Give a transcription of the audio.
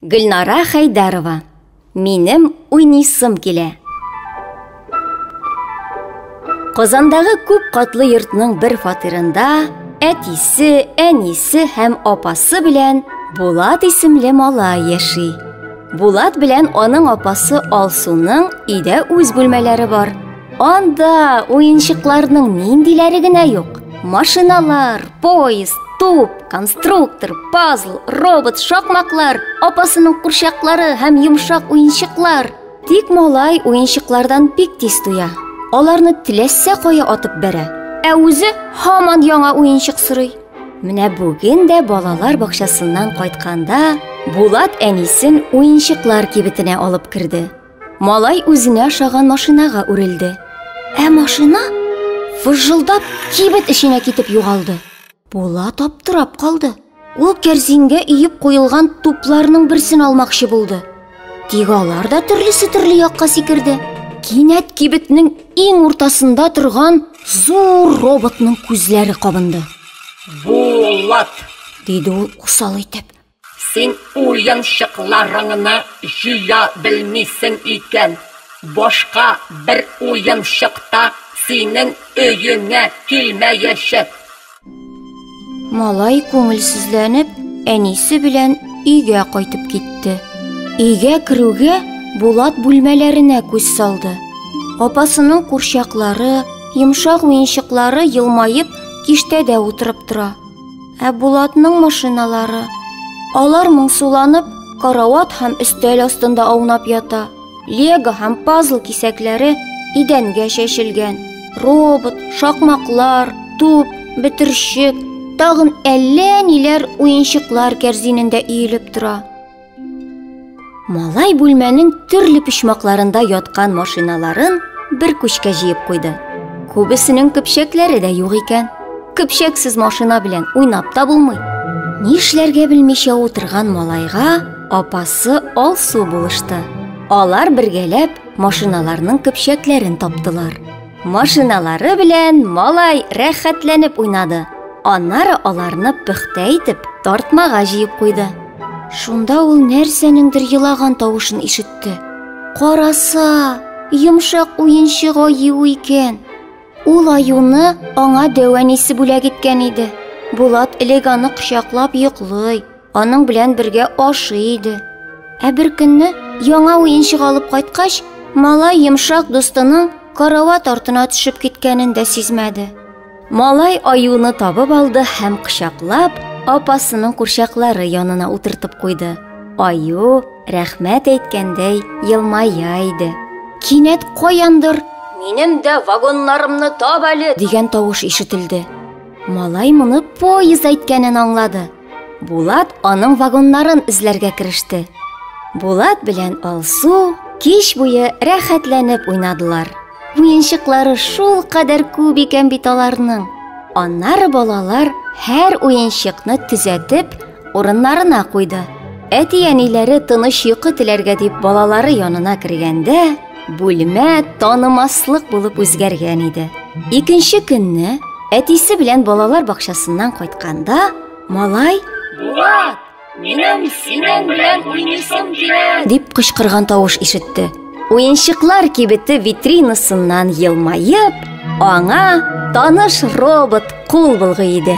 Гөлнара Хәйдәрова. Минем уйнисым килә. Казандагы күп катлы йортның бер фатирында әтисе, әнисе һәм апасы белән Булат исемле мала яши. Булат белән аның апасы Алсуның өйдә үз бүлмәләре бар. Анда уенчыкларның ниндиләре генә юк. Машиналар, поезд, туп, конструктор, пазл, робот, шакмаклар, апасының курчаклары һәм йомшак уенчыклар. Тик малай уенчыклардан бик тиз туя. Аларны теләсә кая атып бәрә. Ә үзе һаман яңа уенчык сорый. Менә бүген дә балалар бакчасыннан кайтканда Булат әнисен уенчыклар кибетенә алып керде. Малай үзенә ошаган машинага үрелде. Ә машина фыжылдап кибет эченә китеп югалды. Булат аптырап калды. Ул кәрзингә иеп куелган тупларның берсен алмакчы булды. Тик алар да төрлесе төрле якка сикерде. Кинәт кибетнең иң уртасында торган зур роботның күзләре кабынды. Булат! диде ул усал итеп. Син уенчыкларыңны җыя белмисең икән, башка бер уенчык та синең өеңә килмәячәк. Малай күңелсезләнеп әнисе белән өйгә кайтып китте. Өйгә керүгә, Булат бүлмәләренә күз салды. Апасының курчаклары, йомшак уенчыклары елмаеп киштәдә утырып тора. Ә Булатның машиналары, алар моңсуланып, карават һәм өстәл астында аунап ята. Лего һәм пазл кисәкләре идәнгә чәчелгән. Робот, шакмаклар, туп, бөтерчек, тагын әллә ниләр уенчыклар кәрзинендә иелеп тора. Малай бүлмәнең төрле почмакларында яткан машиналарын бер күчкә җыеп куйды. Күбесенең көпчәкләре дә юк икән. Көпчәксез машина белән уйнап та булмый. Нишләргә белмичә утырган малайга апасы Алсу булышты. Алар бергәләп машиналарның көпчәкләрен таптылар. Машиналары белән малай рәхәтләнеп уйнады. Аннары аларны пөхтә итеп тартмага җыеп куйды. Шунда ул нәрсәнеңдер елаган тавышын ишетте. Караса, йомшак уенчык аю икән. Ул аюны аңа дәвәнисе бүләк иткән иде. Булат элек аны кочаклап йоклый. Аның белән бергә ашый иде. Ә бер көнне яңа уенчык алып кайткач, малай йомшак дустының карават артына төшеп киткәнен дә сизмәде. Малай аюны табып алды һәм кочаклап, апасының курчаклары янына утыртып куйды. Аю рәхмәт әйткәндәй елмая иде. Кинәт каяндыр Минем дә вагоннарымны таб әле дигән тавыш ишетелде. Малай моны поезд әйткәнен аңлады. Булат аның вагоннарын эзләргә кереште. Булат белән Алсу кич буе рәхәтләнеп уйнадылар. Уенчыклары шул кадәр күп икән бит аларның. Аннары балалар һәр уенчыкны төзәтеп, урыннарына куйды. Әти-әниләре тыныч йокы теләргә дип балалары янына кергәндә, Бүлмә танымаслык булып үзгәргән иде. Икенче көнне әтисе белән балалар бакчасыннан кайтканда, малай Булат, минем синең белән уйныйсым килә! дип кычкырган тавыш ишетте. Уенчыклар кибете витринасыннан елмаеп, аңа таныш робот Кул былгый иде.